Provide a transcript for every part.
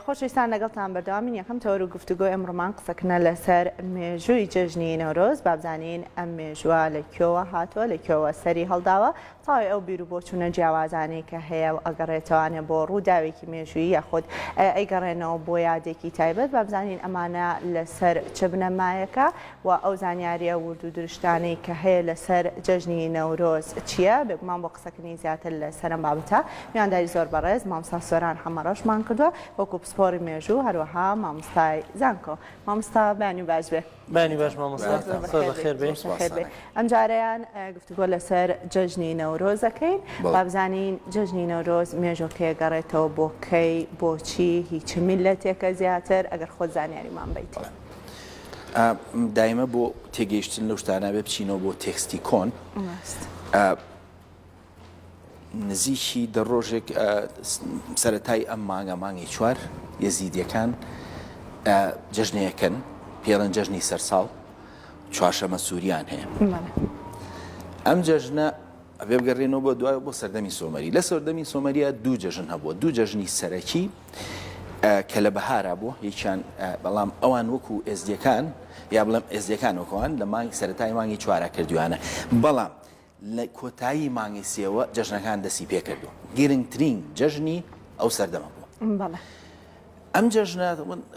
خۆشەویستان لەگەڵتان بەردەوامین یەکەم تەوەر و گفتوگۆی ئەمڕۆمان قسەکنە لەسەر مێژووی جەژنی نەورۆز بابزانین ئەم مێژووە لە کۆوە هاتووە لە کۆوە سەری هەڵداوە تاوی ئەو بیر و بۆچوونە جیاوازانەی کە هەیە و ئەگەڕێتەوانێ بۆ ڕووداوێکی مێژووی یاخود ئەیگەڕێنەوە بۆ یادێکی تایبەت بابزانین ئەمانە لەسەر چ بنەمایەکە و ئەو زانیاریە ورد و درشتانەی کە هەیە لەسەر جەژنی نەورۆز چیە؟ بێگومان بۆ قسەکردنی زیاتر لەسەرم بابەتە میوانداری زۆر بەڕێز مامۆستا سۆران حەمە ڕەشمان کردوە وەکو پسپۆڕی مێژوو هەروەها مامۆستای زانکۆ مامۆستا بەیانی باش بێ. بەیانی باش مامۆستا زۆر بەخێر بێی. زۆر بەخێر بێی ئەم جارەیان گفتوگۆ لەسەر جەژنی نەورۆز ئەکەین با بزانین جەژنی نەورۆز مێژۆکەی ئەگەڕێتەوە بۆ کەی بۆچی هی چ میللەتێکە زیاتر ئەگەر خۆت زانیاریمان بەیتێ. دایمە بۆ تێگەیشتن لەو شتانە بێ بچینەوە بۆ تێکستی کۆن نزیکی دە ڕۆژێک سەتای ئەم مانگە مانگی چوار یەزیدیەکان جژنەیەکەن پێڵەن جژنی سەرساڵ چوارشەمە سووریان هەیە ئەم جژنە ئەبێ بگەڕێنەوە بۆ دوای بۆ سەردەمی سۆمەری لە سەردەمی سۆمەریە دوو جژن هەبووە دوو جژنی سەرەکی کە لە بەهارا بوو یەکیان بەڵام ئەوان وەکو ئێزدیەکان یا بڵێم ئێزدیەکان وەکەوان لە مانگ سەرەتای مانگی چوارا کردویانە بەڵام لە کۆتایی مانگی سێوە جەژنەکان دەسی پێکردووە گرنگترین جەژنی ئەو سەردەمە بووە ئەم جەژنە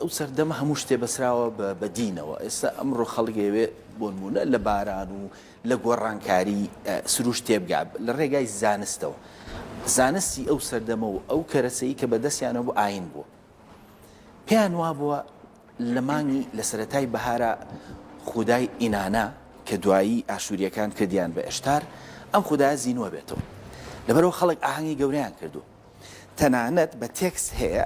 ئەو سەردەمە هەموو شتێ بەسراوە بە دینەوە ئێستا ئەمڕۆ خەڵگەوێ بۆنمونە لە باران و لە گۆڕانکاری سروشت تێبگا لە ڕێگای زانستەوە، زانستی ئەو سەردەمە و ئەو کەرەسەی کە بەدەستیانەوە بوو ئاین بوو. پێیان وابووە لە مانگی لە سەرەتای بەهارا خودای ئینانا کە دوایی ئاشوورییەکان کردیان بە ئەشتار، ئەم خودایە زینوە بێتەوە. لەبەرئەوە خەڵک ئاهەنگی گەورەیان کردووە. تەنانەت بە تێکست هەیە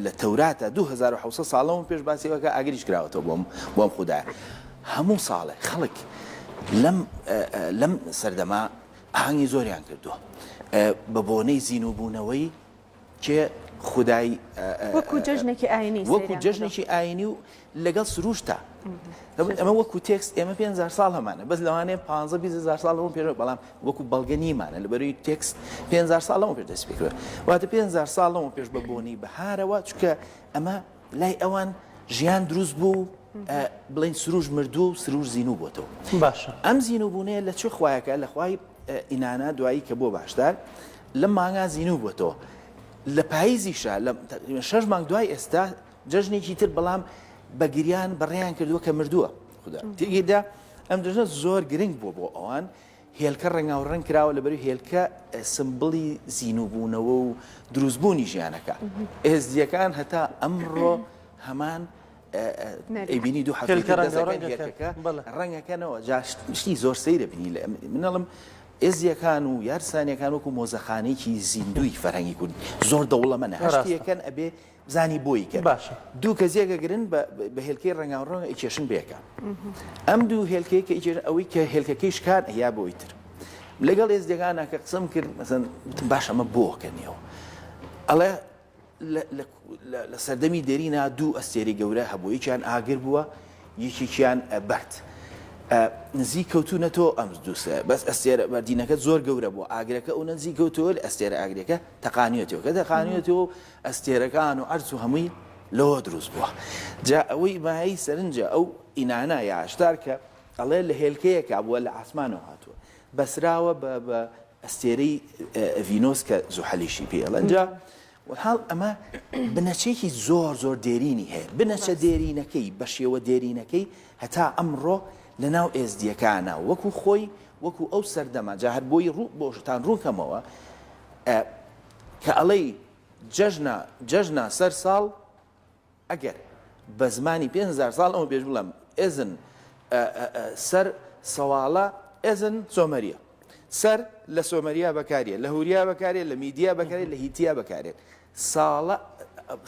لە تەوراتە دوو هەزار و حەوت سەد ساڵ لەمەو پێش باسی ئەوەکە ئاگریش کراوەتەوە بۆم بۆ ئەم خودایە هەموو ساڵێ خەڵک لەم لەم سەردەما ئاهەنگی زۆریان کردووە بە بۆنەی زینوبوونەوەی کێ خودای وەکو جەژنێکی ئاینی وەکو جەژنێکی ئاینی و لەگەڵ سروشتا دەبێت ئەمە وەکو تێکس ئێمە پێ هزار ساڵ هەمانە بەس لەوانەیە پ هزار ساڵ لەمە پێرەوە بەڵام وەکو بەڵگە نیمانە لەبەروی تێکس پێ هزار ساڵ لەمە پێ دەست پێکرێت واتە پێ هزار ساڵ لەمە پێش بە بۆنی بەهارەوە چکە ئەمە لای ئەوان ژیان دروست بوو بڵین سروش مردوو و سروش زین و بۆتەوە باشە ئەم زین و بوونەیە لە چ خویەکە لە خوای ئینانا دوایی کە بۆ باشدار لە مانگا زین و بۆتەوە لە پاییزیشە لە شەش مانگ دوای ئێستا جەژنێکی تر بەڵام بە گریان بەڕێیان کردووە کە مردووە خودا تێگەیدا ئەم جەژنە زۆر گرنگ بووە بۆ ئەوان هێلکە ڕەنگاو ڕەنگ کراوە لە بەری هێلکە سمبڵی زیینوبوونەوە و دروستبوونی ژیانەکە ئێزدیەکان هەتا ئەمڕۆ هەمان ئەیبینی دوو حەکە ڕەنگەکەنەوە جاشتی زۆر سەیرە بینی لە منەڵم ئێزیەکان و یارسانەکان وەکو مۆزەخانێکی زیندوی فەرهەنگی کورد زۆر دەوڵەمەە هەشتەکەن ئەبێ زانی بۆی گەر باشە. دوو کەس یەک ئەگرن بە بە هێلکەی ڕەنگاو ڕەنگ ئەیکێشن بەیەکا ئەم دوو هێلکەی کە ئیجێرن ئەوەی کە هێلکەکەی شکان ئەیا بە ئەوی تر لەگەڵ ئێزدیەکانا کە قسەم کرد مەسەن وتم باش ئەمە بۆ کە نیەوە ئەڵێ لە لە لە لە سەردەمی دێرینا دوو ئەستێرەی گەورە هەبوو یەکیان ئاگر بووە یەکێکیان بەرد ئە نزیک کەوتوونەتەوە ئەم دووسە بەس ئەستێرە بەردینەکە زۆر گەورە بووە ئاگرەکە ئەو نزیک کەوتەوە لە ئەستێرە ئاگرەکە تەقانیەتەوە کە تەقانیەتەوە ئەستێرەکان و عەرز و هەمووی لەوە دروست بووە جا ئەوەی مایەی سەرنجە ئەو ئینانا یا عەشتار کە ئەڵێ لە هێلکەیەکا بووە لە عاسمانەوە هاتووە بەسراوە بە بە ئەستێرەی ڤینۆس کە زوحەلیشی پێ ئەڵێن جا وەڵحاڵ ئەمە بنەچەیەکی زۆر زۆر دێرینی هەیە بنەچە دێرینەکەی بە شێوە دێرینەکەی هەتا ئەمڕۆ لەناو ئێزدیەکانە وەکو خۆی وەکو ئەو سەردەمە جا هەر بۆی ڕوو بۆشتان ڕووکەمەوە کە ئەڵێی جەژنە جەژنە سەر ساڵ ئەگەر بە زمانی پێنج هەزار ساڵ ئەمە پێش بڵێم ئێزن سەر سەواڵە ئێزن سۆمەریە سەر لە سۆمەریا بەکاریە لە هوریا بەکارێت لە میدیا بەکارێت لە هیتیا بەکارێت ساڵە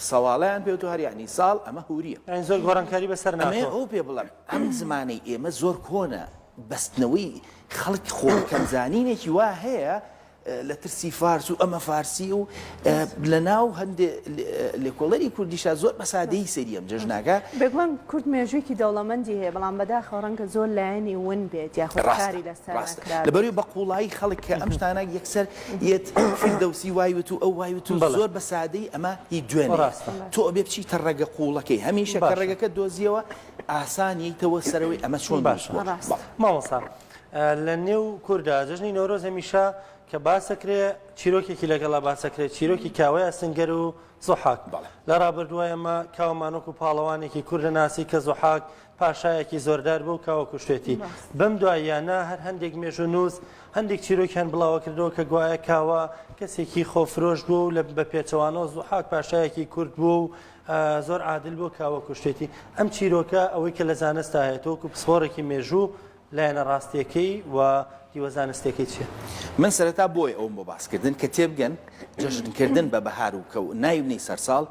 سەواڵیان پێ و هەر یعنی ساڵ ئەمە هوریە زۆر گۆڕانکاری بەسەر نامێ ئەو پێ بڵم ئەم زمانی ئێمە زۆر کۆنە بەستنەوەی خەڵک خۆکەمزانینێکی وا هەیە لە ترسی فارس و ئەمە فارسی و لە ناو هەندێ لێکۆڵەری کوردیشا زۆر بە سادەیی سەیری ئەم جەژناکە. بێگومان کورد مێژوویەکی دەوڵەمەندی هەیە، بەڵام بەداخەوە ڕەنگە زۆر لایەنی ون بێت یاخود کاری لەسەر نەکرابێت. ڕاستە، ڕاستە. لەبەروی بە قووڵایی خەڵک کە ئەم شتانە یەکسەر یەت فیردەوسی وای وت و ئەو وای وت و زۆر بە سادەیی ئەمە هی دوێنێیە. ڕاستە. تۆ ئەبێ بچیتە ڕەگە قووڵەکەی هەمیشە کە ڕەگەکەت دۆزییەوە ئاسان یەیتەوە سەرەوەی ئەمە چۆن دروست بووە. باشە. ڕاستە. مامۆستا لە نێو کوردا جەژنی نەورۆز هەمیشە کە باسەکرێ چیرۆکێکی لەگەڵا باسەکرێت چیرۆکی کاوەیە سنگەر و زۆحاک لە ڕابردووە ئەمە کاوەمانۆک و پاڵەوانێکی کوردە ناسی کە زۆحاک پاشایەکی زۆردار بوو کاوە کوشتێتی بەم دواییانە هەر هەندێک مێژ و نووس هەندێک چیرۆکیان بڵاوە کردەوە کە گوایە کاوە کەسێکی خۆفرۆش بوو لە بە پێچەوانەوە زۆحاک پاشایەکی کورد بوو و زۆر عادل بۆ کاوە کوشتێتی ئەم چیرۆکە ئەوەی کە لە زانستا هەیە تۆکو پسپۆڕێکی مێژوو لایەنە ڕاستیەکەی و هیوە زانستێکی چیە؟ من سەرەتا بۆی ئەوم بۆ باسکردن کە تێبگەن جەژنکردن بە بەهار و کەو ناینی سەرساڵ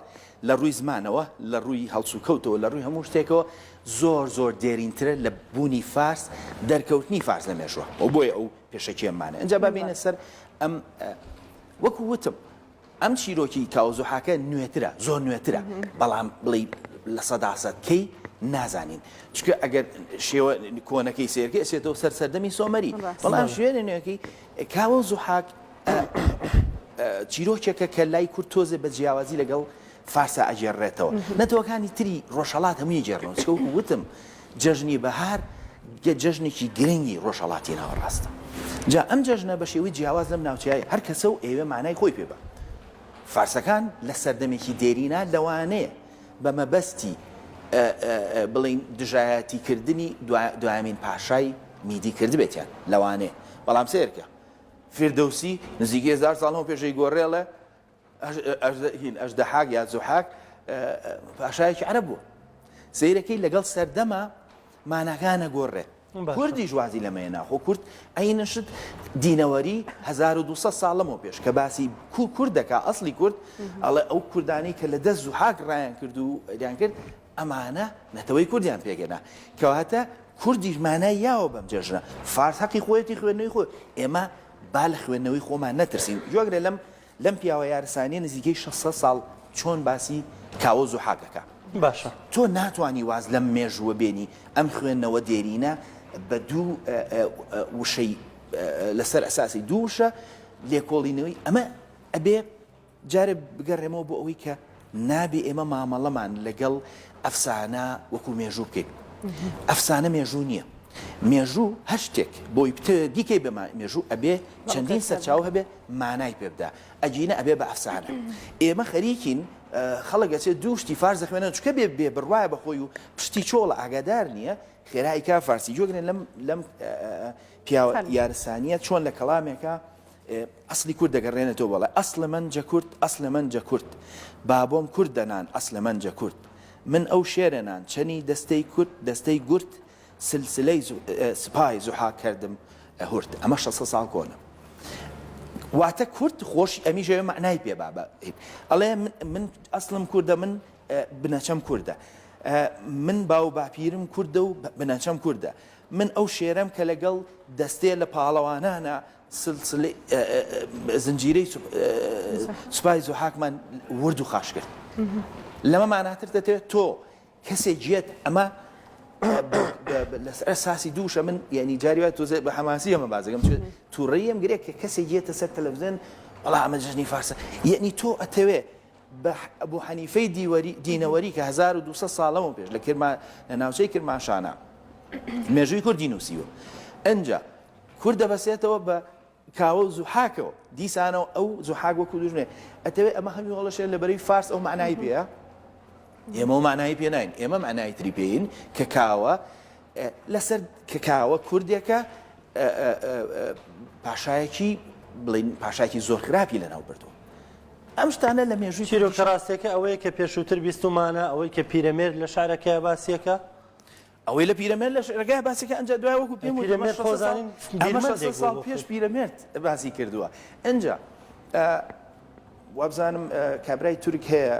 لە ڕووی زمانەوە لە ڕووی هەڵسوکەوتەوە لە ڕووی هەموو شتێکەوە زۆر زۆر دێرینترە لە بوونی فارس دەرکەوتنی فارس لە مێژوە و بۆیە ئەو پێشەکیێمانە ئەجا بابینە سەر ئەم وەکو وتم ئەم چیرۆکی کاوە زوحاکە نوێترە زۆر نوێترە بەڵام بڵی لە سەداسەد کەی نازانین چکە ئەگەر شێوە کۆنەکەی سێرگە ئەسێتەوە سەر سەردەمی سۆمەری بەڵام شوێنە نوێەکەی کاوە و زوحاک چیرۆکێکە کە لای کورد تۆزێ بە جیاوازی لەگەڵ فارسا ئەگێڕێتەوە نەتەوەکانی تری ڕۆژهڵات هەمووی گێڕنەوە چکە وتم جەژنی بەهار جەژنێکی گرنگی ڕۆژهەڵاتی ناوەڕاستە، جا ئەم جەژنە بە شێوەی جیاواز لەم ناوچەیە هەر کەسە و ئەیەوێ مانای خۆی پێ بات. فارسەکان لە سەردەمێکی دێرینا لەوانەیە بە مەبەستی بڵێین دژایەتی کردنی دوایەمین پاشای میدی کردبێتیان، لەوانەیە، بەڵام سەیرکە، فیردەوسی نزیکەی هەزار ساڵ لەمەو پێشەی گۆرێڵە هین، ئەژدەحاک یا زوحاک پاشایەکی عەرەب بوو. سەیرەکەی لەگەڵ سەردەما ماناکان نەگۆڕێت. کوردیش وازی لەمەیە ناخۆ کورد عینە شت دینەوەری 1200 ساڵ لەمەوە پێش کە باسی کو کورد دەکا ئەسلی کورد ئەڵێ ئەو کوردانی کە لە دەست زوحاک ڕایان کرد و دیان کرد ئەمانە نەتەوەی کوردیان پێگەنا کەواتە کوردیش مانای یاوە بەم جێژنە فارس حەقی خۆیەتی خوێندنەوەی خۆ ئێمە با لە خوێندنەوەی خۆمان نەترسین جۆگرە لەم لەم پیاوە یارسانیە نزیکەی شەش سەد ساڵ چۆن باسی کاوە و زوحاک ئەکا؟ باشە تۆ ناتوانی واز لەم مێژووە بێنی ئەم خوێندنەوە دێرینە بە دوو وشەی لەسەر ئەساسی دوو وشە لێکۆڵینەوەی ئەمە ئەبێ جارێ بگەڕێمەوە بۆ ئەوەی کە نابێ ئێمە مامەڵەمان لەگەڵ ئەفسانە وەکو مێژوو بکەین. ئەفسانە مێژوو نییە. مێژوو هەر شتێک بۆی بتەوێ بیکەی بە مێژوو ئەبێ چەندین سەرچاوە هەبێ مانای پێ بدا. ئەگینە ئەبێ بە ئەفسانە. ئێمە خەریکین خەڵک ئەچێ دوو شتی فارس دەخوێنێ چونکە بێ بێ بڕوایە بە خۆی و پشتی چۆڵە ئاگادار نییە خێرا ئەیکا فارسی. گوێگرن لەم لەم پیاوە یارسانییە چۆن لە کەڵامێکا، ئەسڵی کورد دەگەڕێنێتەوە بەڵێ ئەسڵ من جە کورد ئەسڵ من جە کورد بابۆم کورد دەنان ئەسڵ من جە کورد من ئەو شێرە نان چەنی دەستەی کورد دەستەی گورد سلسلەی سپای زوحاک کردم هورد ئەمە شەسە ساڵ کۆنە واتە کورد خۆشی ئەمی ژەوێ معنای پێ بابە ئەڵێ من ئەسڵم کوردە من بنەچەم کوردە من باو باپیرم کوردە و بنەچەم کوردە من ئەو شێرەم کە لەگەڵ دەستێ لە پاڵەوانانە زنجیرەی سوپای زوحاکمان ورد و خاش کرد لەمە ماناتر دەتەوێت تۆ کەسێک گیێت ئەمە لەسەر ساسی دووشە من یعنی جاری وای تۆزێ بە حەماسی ئەمە بازەکەم چێت تووڕیم گرێک کە کەسێک گیێتە سەر تەلەڤزیۆن وڵا ئەمە جژنی فارسە یعنی تۆ ئەتەوێ بۆ حەنیفەی دیوەری دینەوەری کە 1200 ساڵەوە پێش لە کرمان لە ناوچەی کرماشانە مێژووی کوردی نووسیوە ئەجا کورد دەبەستێتەوە بە کاوە و زوحاکەوە دیسانەوە ئەو زوحاک وەکو دوژمێ ئەتەوێ ئەمە هەمی هۆڵەشێن لە بەرەی فارس ئەو معنای پێە ئێمە مانایی پێ ناین ئێمە معنای تری پێین کە کاوە لەسەر کە کاوە کوردێکە پاشایەکی بڵین پاشاکی زۆر خراپی لەناو بردو ئەم شتانە لە مێژوی چیرۆکە ڕاستەکە ئەوەیە کە پێشووتر بیستمانە ئەوەی کە پیرەمێر لە شارەکە باسیەکە ئەوەی لە پیرەمێرد لە شعرەکەیا باسی کە ئەنجا دوای وەکو پێم وت ئەمە شەست سەد ساڵ ئەمە شەست سەد ساڵ پێش پیرەمێرد باسی کردووە ئەنجا وابزانم کابرای تورک هەیە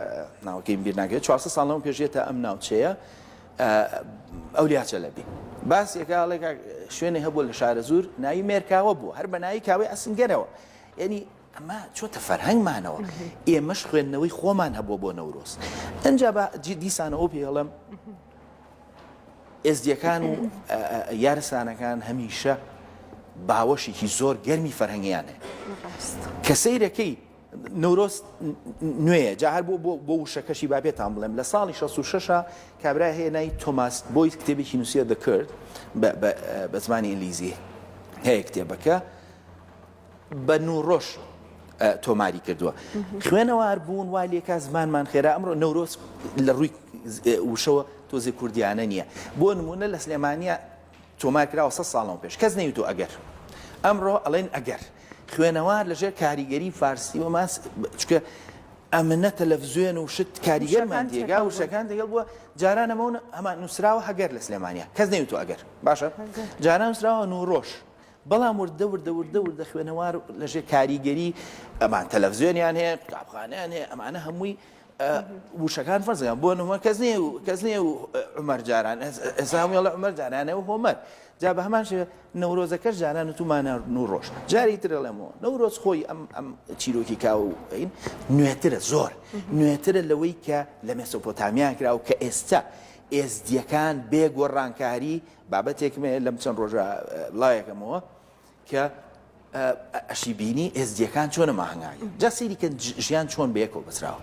ناوەکەیم بیر ناگرێت 400 ساڵ لەم پێشێت تا ئەم ناوچەیە ئەو لیاچە لەبی باس یەکاڵێک شوێنی هەبوو لە شارە زور ناوی مێرکاوە بوو هەر بە ناوی کاوەی ئەسنگەرەوە یعنی ئەمە چۆتە فەرهەنگمانەوە ئێمەش خوێندنەوەی خۆمان هەبووە بۆ نەورۆز ئەجا بە دیسانەوە پێڵم ئێزدییەکان و یارسانەکان هەمیشە باوەشێکی زۆر گەرمی فەرهەنگیان هەیە کە سیرەکەی نورۆز نوێیە جا هەر بۆ بۆ وشەکەشی بابێتان بڵێم لە ساڵی 66 کابرا هەیە نای تۆماس بۆیت کتێبێکی نووسە دەکرد بە زمانی ئینگلیزی هەیە کتێبەکە بە نووڕۆژ تۆماری کردووە خوێنەوار بوون وا لێکا زمانمان خێرا ئەمڕۆ نەورۆز لە ڕووی وشەوە تۆزێ کوردیانە نییە بۆ نمونە لە سلێمانە تۆمارکراوە سە ساڵەوە پێش کەس نەیوتۆ ئەگەر ئەمڕۆ ئەڵێن ئەگەر خوێنەوار لەژێر کاریگەری فارسی و ماس چکە ئەمنە تەلەڤزیۆن و شت کاریگەرمان دێگا وشەکان دەگەڵ بووە جارانەمەون ئەمان نووسراوە هەگەر لە سلێمانە کەس نەیوتۆ ئەگەر باشە جاران نووسراوە نوڕۆژ بەڵام وردە وردە وردە وردە خوێنەوار لەژێ کاریگەری ئەمان تەلەڤزیۆنیان هەیە قوتابخانیان هەیە ئەمانە هەمووی وشەکان فەرزیان بۆ نمە کەس نیە و کەس نیە و عمەر جاران ئێساڵە عمەر جارانە و هۆمەر جا بە هەمان شێ نەورۆزەکەش جاران و تومانە نور ڕۆژ جاری ترەڵێمەوە نەورۆز خۆی ئەم ئەم چیرۆکی کاوە و ئەین نوێترە زۆر نوێترە لەوەی کە لە مێسۆپۆتامیا کراوە کە ئێستا ئێزدیەکان بێگۆڕانکاری بابەتێکم هەیە لەم چەند ڕۆژە بڵاویەکەمەوە کە ئەشی بینی ئێزدیەکان چۆنە ماهنگاگە جا سەیریکە ژیان چۆن بەیەکەوە بەسراوە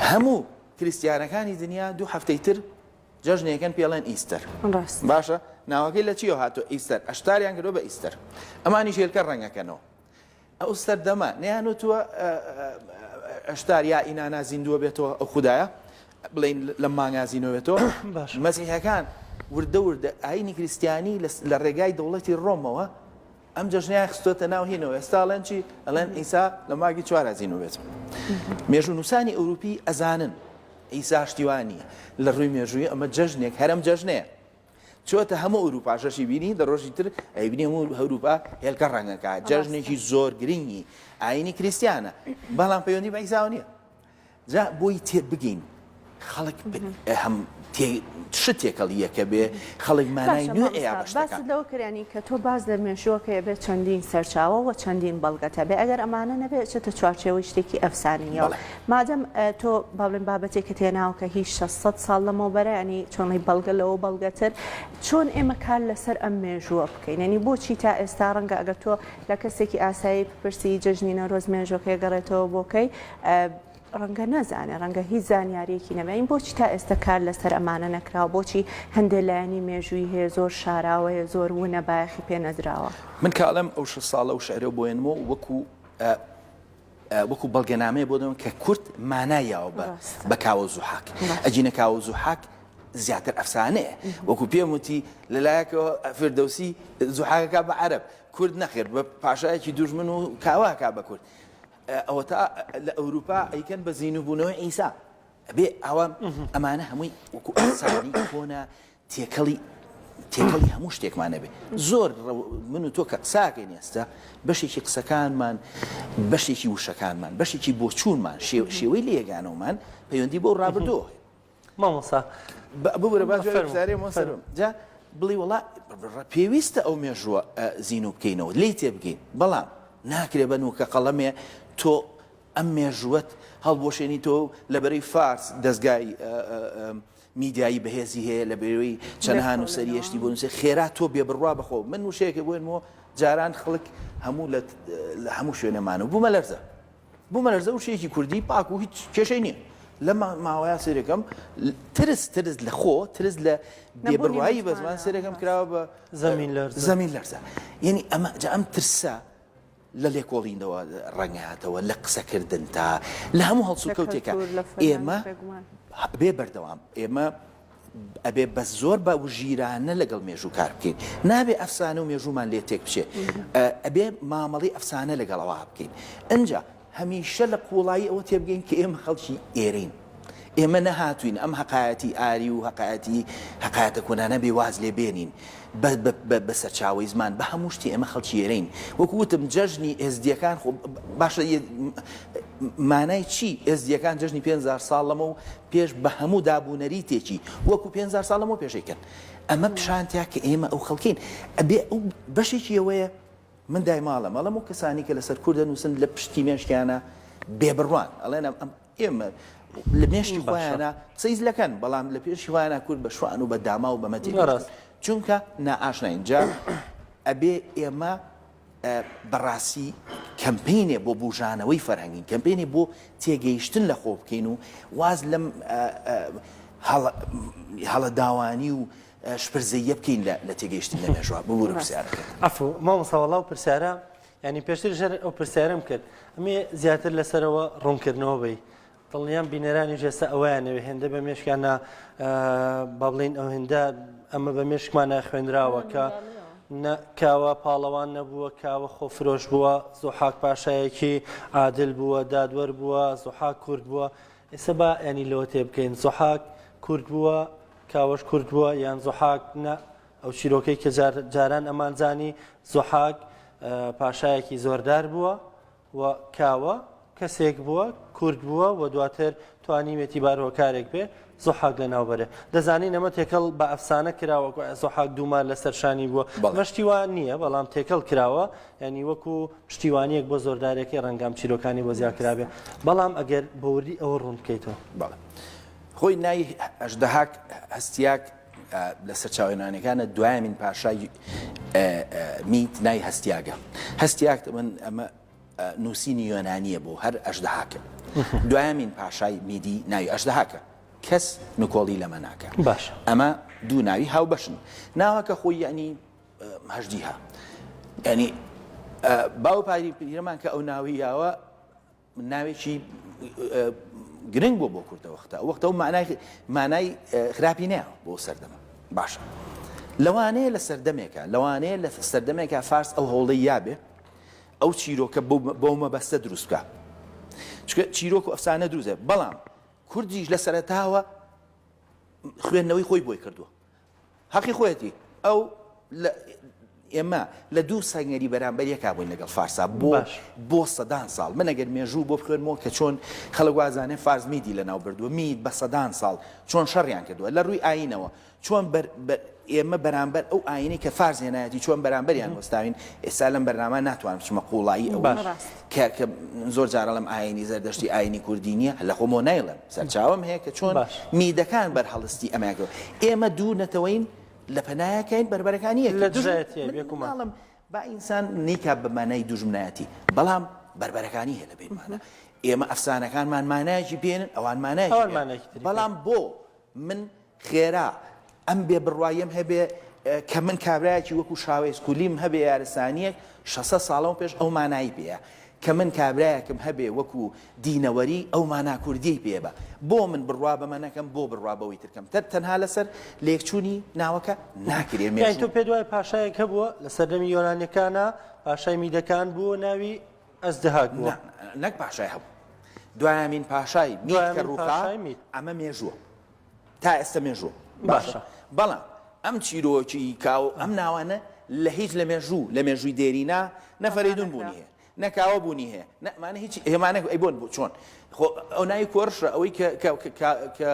هەموو کریسیانەکانی دنیا دوو هەفتەی تر جەژنەکەن پێڵێن ئیستەر باشە ناوەکەی لە چیەوە هاتۆ ئیستەر ئەشتاریان کردو بە ئیستەر ئەمانی ژێلکە ڕەنگەکەنەوە ئەو سەردەمە نەیانوتووە ئەشتار یا ئینانا زیندووە بێتەوە ئەو خودایە بڵین لە مانگا زینۆێتەوە مەزیحەکان وردە وردە ئاینی کریسیانی لە ڕێگای دەوڵەتی ڕۆمەوە ئەم جەژنیان خستۆتە ناو هینەوە ئێستاڵێن چی ئەلێن ئیسا لە ماگی چوارازینەوەێت مێژوو نووسانی ئەوروپی ئەزانن ئیساشتیوانە لە ڕووی مێژووی ئەمە جەژنێک هەرم جەژنەیە چۆتە هەموو ئەوروپا شەشی بینی دە ڕۆژی تر ئەیبنی هەموو هەروپا هێلکە ڕەنگەکە جەژنێکی زۆر گرنگی ئاینی کریسیانە بەڵام پەیوەندی بەیساو نییە جا بۆی تێ بگەین خەڵک هەم شت تێکەڵی یەکە بێ خەڵک مانای نوێ باست لەوە کرانی کە تۆ باز لە مێشوەکەی بێت چەندین سەرچاوە و چەندین بەڵگەتە بێ ئەگەر ئەمانە نەبێت چێتە چوارچێەوەی شتێکی ئەفسانیەوە مادەم تۆ با بڵێن بابەتێکت هێناوە کە هی شەست سەد ساڵ لەمەوبەرە یانی چۆنی بەڵگە لەوە بەڵگەتر چۆن ئێمە کار لەسەر ئەم مێژووە بکەین یانی بۆچی تا ئێستا ڕەنگە ئەگەر تۆ لە کەسێکی ئاسایی بپرسی جەژنی نەورۆز مێژووەکەی گەڕێتەوە بۆ کەی ڕەنگە نەزانێ ڕەنگە هیچ زانیاریەکی نەبین بۆچی تا ئێستا کار لەسەر ئەمانە نەکراوە بۆچی هەندێک لایەنی مێژووی هەیە زۆر شاراوەیە زۆر ونە بایەخی پێ نەدراوە من کاڵم ئەو شە ساڵە و شعرە بۆێنمەوە وەکو وەکو بەڵگەنامەیە بۆ دەن کە کورد مانای یاوە بە بە کاوە زوحاک ئەجینە کاوە زوحاک زیاتر ئەفسانەیە وەکو پێم وتی لەلایەکەوە فردەوسی زوحاکەکە بە عرب کورد نەخێر بە پاشایەکی دوژمن و کاواکە بە کورد ئەوە تا لە ئەوروپا ئەیکەن بە زیینوبوونەوەی ئیسا بێ ئەوە ئەمانە هەمووی وەکو ئەسانی کۆنا تێکەڵی تێکەڵی هەموو شتێکمان نەبێ زۆر من و تۆ کە قساکەین ئێستا بەشێکی قسەکانمان بەشێکی وشەکانمان بەشێکی بۆچوونمان شێوەی لە یەگانەوەمان پەیوەندی بۆ ڕابردۆ مامۆسا ببرە باشجا بڵی وڵا پێویستە ئەو مێژووە زین و بکەینەوە لی تێ بگەین بەڵام ناکرێ بە نوکە قەڵەمێ تۆ ئەم مێژووت هەڵبۆشێنی تۆ لەبەرەی فارس دەستگای میدیایی بەهێزی هەیە لەبەرەی چەنەها نوسەری هێشتی بۆ نوسێ خێرا تۆ بێ بڕوا بەخۆ من وشەیەکە بۆێنمەوە جاران خەڵک هەموو لە هەموو شوێنەمان و بوومە لەرزە بوومە لەرزە و شێکی کوردی پاک و هیچ کێشەی نییە لە ماوەیا سێرەکەم ترس ترس لە خۆ ترس لە بێبڕایی بەزمان سێرەکەم کراوە بە زەمین لەرزە زەمین لەرزە یعنی ئەمە جا ئەم ترسە لە لێکۆڵینەوە ڕەنگهاتەوە، لە قسەکردن تا لە هەموو هەڵسوکەوتێکە ئێمە بێ بەردەوام ئێمە ئەبێ بەس زۆر بە وژیرانە لەگەڵ مێژوو کار بکەین نابێ ئەفسانە و مێژوومان لێ تێک بچێت ئەبێ مامەڵی ئەفسانە لەگەڵەوە بکەین ئەجا هەمیشە لە قوڵایی ئەوە تێبگەین کە ئێمە خەڵکی ئێرین. ئێمە نەهاتووین ئەم هەقایەتی ئاری و هەقایەتی هەقایەتە کۆنانە بێ واز لێ بێنین بە بە بە سەرچاوەی زمان بە هەموو شتێ ئێمە خەڵکی ئێرەین وەکوو وتم جەژنی ئێزدییەکان خۆ باشە مانای چی ئێزدییەکان جەژنی پێنج هەزار ساڵ لەمە و پێش بە هەموو داب و نەریتێکی وەکوو پێنج هەزار ساڵ لەمەو پێشەی کرد ئەمە پیشانتە کە ئێمە ئەو خەڵکین ئەبێ ئەو بەشێکی ئەوەیە من دایماڵم ئەڵەم و کەسانی کە لەسەر کورد دەنووسن لە پشتی مێشکیانە بێبڕوان ئەڵێن ئەم ئێمە لە مێشکی خۆیانە قسەی زلەکەن، بەڵام لە پێشی خۆیانە کورد بە شوان و بە داما و بە مەتێ دەیکوژن، چونکە نائاشناین. جا ئەبێ ئێمە بە ڕاستی کەمپەینێ بۆ بووژانەوەی فەرهەنگین، کەمپەینێ بۆ تێگەیشتن لە خۆ بکەین و واز لەم هەڵەداوانی و شپرزەییە بکەین لە تێگەیشتن لە مێژووە. ببورە پرسیارەکەت. عەفوو مامۆستا وەڵا ئەو پرسیارە یانی پێشتر ژەر ئەو پرسیارم کرد ئەمێ زیاتر لەسەرەوە ڕوونکردنەوە بی دڵنیام بینەرانی ژێستا ئەویانەوێ هێندە بە مێشکیانە با بڵین ئەو هێندە ئەمە بە مێشکمانە خوێنراوە کە کاوە پاڵەوان نەبووە کاوە خۆفرۆش بووە زۆحاک پاشایەکی عادل بووە دادوەر بووە زۆحاک کورد بووە ئێستا با ینی لەوە تێ بکەین زۆحاک کورد بووە کاوەش کورد بووە یان زۆحاک نە ئەو چیرۆکەی کە جار جاران ئەمانزانی زوحاک پاشایەکی زۆردار بووە و کاوە کەسێک بووە کورد بووە و دواتر توانیوێتی بارهۆکارێک بێ زۆحاک لە ناوبەرێ دەزانین ئەمە تێکەڵ بە ئەفسانە کراوە زۆحاک دوومان لە سەرشانی بووە مەشتیوان نییە بەڵام تێکەڵ کراوە ینی وەکو پشتیوانیەک بۆ زۆردارێکی ڕەنگام چیرۆکانی بۆ زیاکرابێ بەڵام ئەگەر بەوردی ئەوە ڕوون بکەیتەوە بەڵێ خۆی نای ئەشدەهاک هەستیاک لە سەرچاوە یۆنانیەکانە دوایەمین پاشای میت نای هەستیاگە هەستیاکت من ئەمە نووسینی یۆنانیە بۆ هەر ئەشدەهاکە دوایەمین پاشای میدی ناوی ئەشدەهاکە کەس نکۆڵی لەمە ناکە باش ئەمە دوو ناوی هاو بەشن ناوەکە خۆی یعنی هەژدیها ینی باو پاری پیرەمان کە ئەو ناوییاوە ناوێکی گرنگ بۆ بۆ کوردەوە ختا ئەو وەختەوە مانای مانای خراپی نیا بۆ سەردەمە باشە لەوانەیە لە سەردەمێکە لەوانەیە لە سەردەمێکە فارس ئەو هەوڵی یابێ ئەو چیرۆکە بۆ مەبەستە دروستکە چکە چیرۆک و ئەفسانە دروزێ بەڵام کوردیش لە سەرتاوە خوێندنەوەی خۆی بۆی کردووە هەقی خۆیەتی ئەو لە ئێمە لە دوو سەنگەری بەرامبەر یەکا بووین لەگەڵ فارسا بۆ باش بۆ سەدان ساڵ من ئەگەر مێژوو بۆ بخوێنمەوە کە چۆن خەڵک وازانێ فارس میدی لە ناو بردووە مید بە سەدان ساڵ چۆن شەڕیان کردووە لە ڕووی ئاینەوە چۆن بەر- بە- ئێمە بەرامبەر ئەو ئاینەی کە فارس هێنایەتی چۆن بەرامبەریان وەستاوین ئێستا لەم بەرنامە ناتوانم بچمە قوڵایی ئەوەی باش. ڕاست. کە کە زۆر جار ئەڵێم ئاینی زەردەشتی ئاینی کوردی نییە لە خۆمەوە نایڵێم سەرچاوەم هەیە کە چۆن باش میدەکان بەرهەڵستی ئەمەیان کرد ئێمە دوو نەتەوەین لە پەنایەکەین بەربەرەکانی یەکتر لە دژ دژایەتیە من بێگومان ناڵم با ئینسان نیکا بە مانای دوژمنایەتی بەڵام بەربەرەکانی هەیە لە بینمانە ئێمە ئەفسانەکانمان مانایەکی پێێنن ئەوان مانایەکی ئەوان پێ مانایەکی تری پێ. بەڵام بۆ من خێرا ئەم بێ بڕواییەم هەبێ کە من کابرایەکی وەکو شاوێس کولیم هەبێ یارسانیەک شەسەد ساڵە لەمە پێش ئەو مانایی پێ یە کە من کابرایەکم هەبێ وەکو دینەوەری ئەو مانا کوردیەی پێ بە بۆ من بڕوا بەمە نەکەم بۆ بڕوا بەوەی تر کەم تەر تەنها لەسەر لێکچوونی ناوەکە ناکرێ مێژوو یانی تۆ پێت وایە پاشایەک هەبووە لە سەردەمی یۆنانیەکانا پاشای میدەکان بوو ناوی ئەزدهاک بووە؟ نا نەک پاشای هەبوو دوایەمین پاشای مید کە دوایەمین ڕووخا پاشای مید. ئەمە مێژووە تا ئێستە مێژووە باشە بەڵام ئەم چیرۆکی کاو ئەم ناوانە لە هیچ لە مێژوو لە مێژووی دێرینا نە فەرەیدون بوونی هەیە نە کاوە بوونی هەیە نە ئەمانە هیچ هێمانە ئەی بۆن بوو چۆن خۆ ئەو ناوی کۆرشە ئەوەی کە کە- کە- کە- کە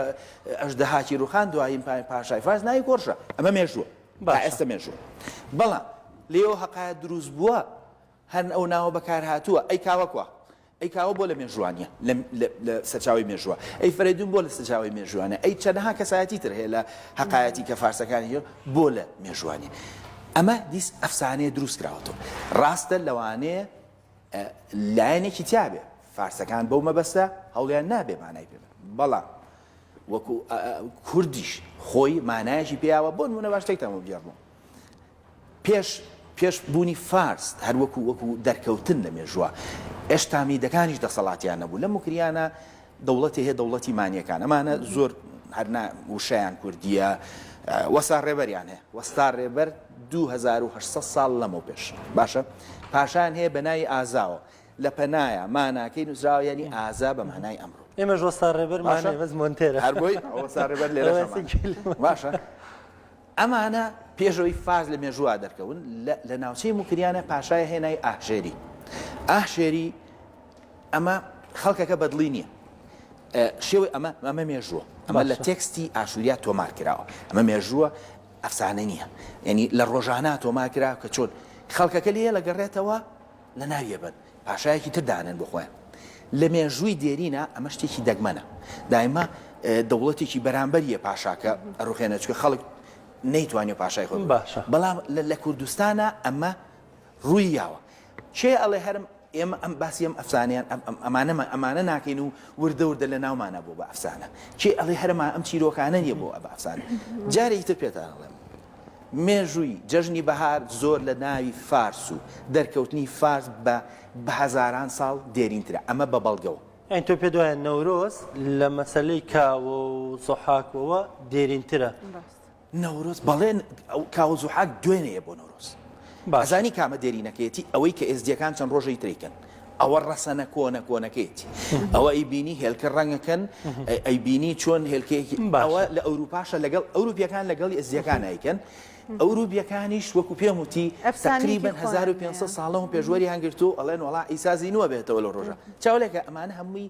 ئەژدەهاکی ڕوخان دوایین پا- پاشای فارس ناوی کۆرشە ئەمە مێژووە تا باشە. ئێستە مێژوو بەڵام لێەوە هەقایەت دروست بووە هەن ئەو ناوە بەکار هاتووە ئەی کاوە کوا ئەی کاوە بۆ لە مێژوانیە لە لە سەرچاوەی مێژوە ئەی فەرەیدون بۆ لە سەرچاوەی مێژوانە ئەی چەنەها کەسایەتی تر هەیە لە هەقایەتی کە فارسەکانی هێ بۆ لە مێژوانیە ئەمە دیس ئەفسانەیە دروست کراوەتەوە ڕاستە لەوانەیە لایەنێکی تیاێ فارسەکان بەو مەبەستە هەوڵیان نابێ مانای پێ بەڵام وەکو کوردیش خۆی مانایەکی پێیاوە بۆن منە باشتێکتان بۆ بگێڕمەوە پێش پێش بوونی فارس هەر وەکو وەکو دەرکەوتن لە مێژووە ئێشتا میدەکانیش دەسەڵاتیان نەبوو لە مکریانە دەوڵەتی هەیە دەوڵەتی مانیەکان ئەمانە زۆر هەرنا وشیان کوردیە وەسا ڕێبەریان هەیە وەستا ڕێبەر 2800 ساڵ لەمە پێش باشە پاشان هەیە بە ناوی ئازاوە لە پەنایە ماناکەی نووسراوە ینی ئازا بە مانای ئەمڕۆ ئێمەش وەستا ڕێبەر ماشە بەس مۆنتێرە هەربۆی ئەوەسا ڕێبەر لێرە باشە ئەمانە پێش ئەوەی فارس لە مێژووا دەرکەون، لە ناوچەی موکریانە پاشایە هێنای ئاهژێری. ئاهژێری ئەمە خەڵکەکە بەدڵی نییە. شێوەی ئەمە، ئەمە مێژووە. ئەمە لە تێکستی ئاشووریا تۆمار کراوە. ئەمە مێژووە، ئەفسانە نییە. یانی لە ڕۆژانا تۆمار کراوە کە چۆن خەڵکەکە لێ لەگەڕێتەوە لە ناویە بەن پاشایەکی تر دانێن بۆ خۆیان لە مێژووی دێرینە ئەمە شتێکی دەگمەنە دایمە دەوڵەتێکی بەرامبەریە پاشاکە ئەڕوخێنە چکە خەڵک نەیتوانێت پاشای خۆ باشە بەڵام لە کوردستانە ئەمە ڕووی یاوە چێ ئەڵێ هەرم ئێمە ئەم باسی ئەم ئەفسانیان ئەمانەمە ئەمانە ناکەین و وردە وردە لە ناومانە بۆ بە ئەفسانە چی ئەڵێ هەرمان ئەم چیرۆکانە نیە بۆ ئە بە ئەفسان جارێکی تر پێتان ئەڵێم مێژووی جەژنی بەهار زۆر لە ناوی فارس و دەرکەوتنی فارس بە بە هەزاران ساڵ دێرینترە، ئەمە بە بەڵگەوە. یانی تۆ پێت وایە نەورۆز لە مەسەلەی کاوە و زوحاک وەوە دێرینترە؟ نەورۆز بەڵێ، کاوە و زوحاک دوێنێیە بۆ نەورۆز. ئەزانی کامە دێرینەکەیەتی ئەوەی کە ئێزدیەکان چەند ڕۆژەی تریکەن ئەوە ڕەسەنە کۆنە کۆنەکەیەتی ئەوە ئەی بینی هێلکە ڕەنگەکەن ئەی بینی چۆن هێلکەیەکی باوە لە ئەوروپاشە لەگەڵ ئەوروپیەکان لەگەڵی ئەزیەکان ئەیکەن ئەوروپیەکانیش وەکو پێم وتی تقریبا 1500 ساڵە و پێشوەری هەنگرتو ئەڵێن وڵا ئیسازی نووە بێتەوە لە ڕۆژە چاولێکە ئەمانە هەمووی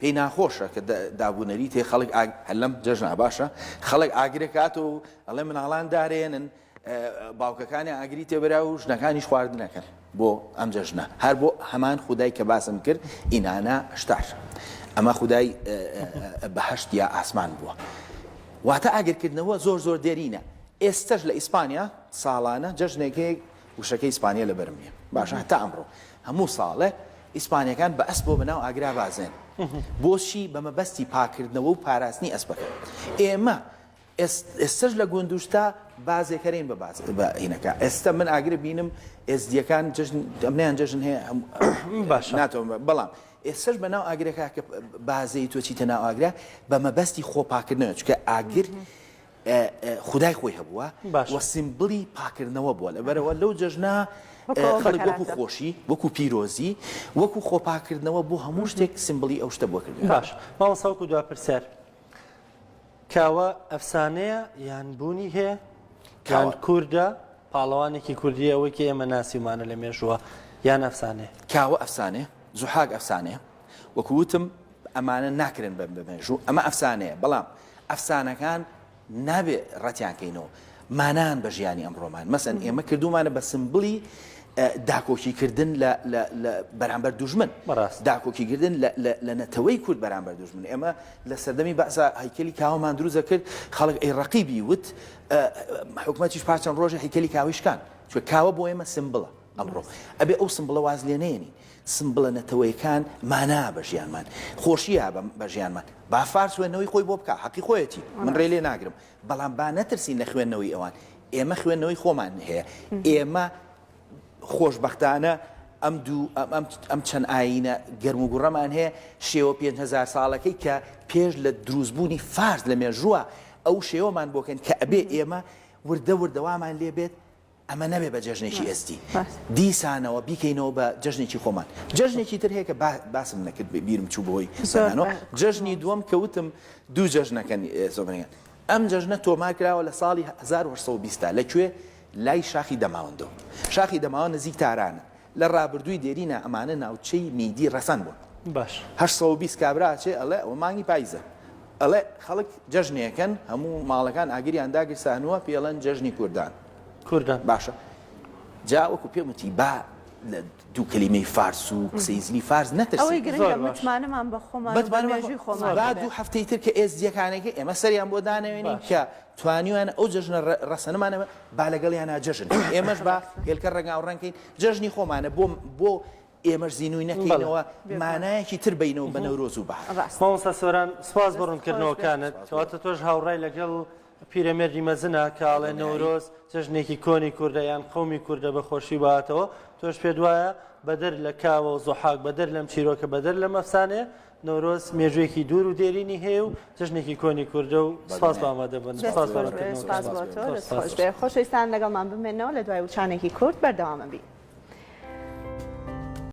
پێی ناخۆشە کە دابونەریتێ خەڵک ئاگ هەر لەم جەژنە باشە خەڵک ئاگرێک هات و ئەڵێ مناڵان دارێنن باوکەکانی ئاگری تێبرا و ژنەکانیش خواردنەکەن بۆ ئەم جەژنە هەر بۆ هەمان خودای کە باسم کرد ئینانا شتار ئەمە خودای بەهشت یا ئاسمان بووە واتە ئاگرکردنەوە زۆر زۆر دێرینە ئێستش لە ئیسپانیا ساڵانە جەژنێکی وشەکەی ئیسپانیە لەبەرم نیە باشە هەتا ئەمڕۆ هەموو ساڵێ ئیسپانیەکان بە ئەسپەوە بە ناو ئاگرا بازێن بۆچی بە مەبەستی پاکردنەوە و پاراستنی ئەسپەکە ئێمە ئێستەش لە گوندوشتا بازێکەرین بە باز بە هینەکە ئێستە من ئاگرە بینم ئێزدیەکان جژن دەمنیان جژن هەیە باش ناتەوە بەڵام ئێسش بە ناو ئاگرەکە کە بازەی تۆچی تەناو ئاگرە بە مەبەستی خۆپاکردنەوە چکە ئاگر خودای خۆی هەبووە و سیمبلی پاکردنەوە بووە، لەبەرئەوە لەو جەژنە خەڵک وەکو خۆشی، وەکو پیرۆزی، وەکو خۆپاکردنەوە بۆ هەموو شتێک سیمبلی ئەو شتە بووە کردووە. باشە مامۆستا وەکو دوا پرسیار، کاوە ئەفسانەیە یان بوونی هەیە؟ کاوە کوردە، پاڵەوانێکی کوردییە وەکی ئێمە ناسیومانە لە مێژووە یان ئەفسانەیە؟ کاوە ئەفسانەیە، زوحاک ئەفسانەیە، وەکو وتم ئەمانە ناکرێن بە مێژوو ئەمە ئەفسانەیە بەڵام ئەفسانەکان نابێ ڕەتیان کەینەوە مانان بە ژیانی ئەم ڕۆمان مەسەن ئێمە کردومانە بە سمبلی داکۆکیکردن بەرامبەر دوژمن داکۆکیکردن لە نەتەوەی کورد بەرامبەر دوژمن ئێمە لە سەردەمی بەسا هەیکلی کاوەمان دروزە کرد خەڵک ئەی ڕقیبی وت حکوومەتیش پاچەند ڕۆژە هیکلی کاویشکان چ کاوە بۆ ئێمە سمبڵە ئەمڕۆ ئەبێ ئەو سمبڵە واز لێ نەیەنین، سمبڵە نەتەوەیەکان مانا بە ژیانمان، خۆشییە بە ژیانمان، با فارس وێندنەوەی خۆی بۆ بکا، حەقی خۆیەتی، من رێ لێ ناگرم، بەڵام با نەترسین لە خوێندنەوەی ئەوان، ئێمە خوێندنەوەی خۆمان هەیە، ئێمە خۆشبەختانە ئەم دوو ئەم چەند ئایینە گەرم و گوڕەمان هەیە، شێوە پێنج هەزار ساڵەکەی کە پێش لە دروستبوونی فارس لە مێژووە ئەو شێوەمان بۆ کەن کە ئەبێ ئێمە وردە وردە وامان لێ بێت، ئەمە نەبێ بە جەژنێکی ئێزدی دیسانەوە بیکەینەوە بە جەژنێکی خۆمان. جەژنێکی تر هەیە کە باسم نەکرد بیرم چوو بەهۆی قسەکانەوە، جەژنی دووەم کە وتم دوو جەژنەکەن زۆبەنگان. ئەم جەژنە تۆمار کراوە لە ساڵی هەزار و هەشت سەد و بیست دا. لە کوێ؟ لای شاخی دەماوەندەوە. شاخی دەماوەند نزیک تارانە. لە ڕابردووی دێرینا ئەمانە ناوچەی میدی ڕەفەن بوون باش. هەشت سەد و بیست کابرا ئەچێ ئەڵێ ئەوە مانگی پایزە ئەڵێ خەڵک جەژنێکەن هەموو ماڵەکان ئاگریان داگرت ساهنووە پێی ئەڵێن جەژنی کوردان کوردان. باشە جا وەکو پێم وتی با لە دوو کەلیمەی فارس و قسەی زلی فارس ئەوەی نەترسین گرنگە زۆر باش. متمانەمان بە خۆمان و بە متمانەمان مێژووی خۆمان زۆر. با هەبێ. دوو هەفتەی تر کە ئێزدییەکانێک ئێمە سەریان بۆ دانەوێنین باش. کە توانیویانە ئەو جەژنە ڕەسەنمانە با لەگەڵیانا جەژن کەین ئێمەش با هێلکە ڕەنگاو ڕەنگ کەین جەژنی خۆمانە بۆ بۆ ئێمەش زینووی نەکەینەوە مانایەکی تر بینەوە بە نەورۆز و بەهار. ڕاست. مامۆستا سۆران سپاس بۆ ڕوونکردنەوەکانت کەواتە تۆش هاوڕای لەگەڵ پیرەمێردی مەزنە کە ئەڵێ نەورۆز جەژنێکی کۆنی کوردە یان قەومی کوردە بە خۆشی باتەوە تۆش پێت وایە بەدەر لە کاوە و زوحاک بەدەر لەم چیرۆکە بەدەر لەم ئەفسانەیە نەورۆز مێژوویەکی دوور و دێرینی هەیە و جەژنێکی کۆنی کوردە و سپاس بۆ ئامادەبوون خۆشەویستان لەگەڵمان بمێنەوە لە دوای وچانێکی کورت بەردەوامە بی.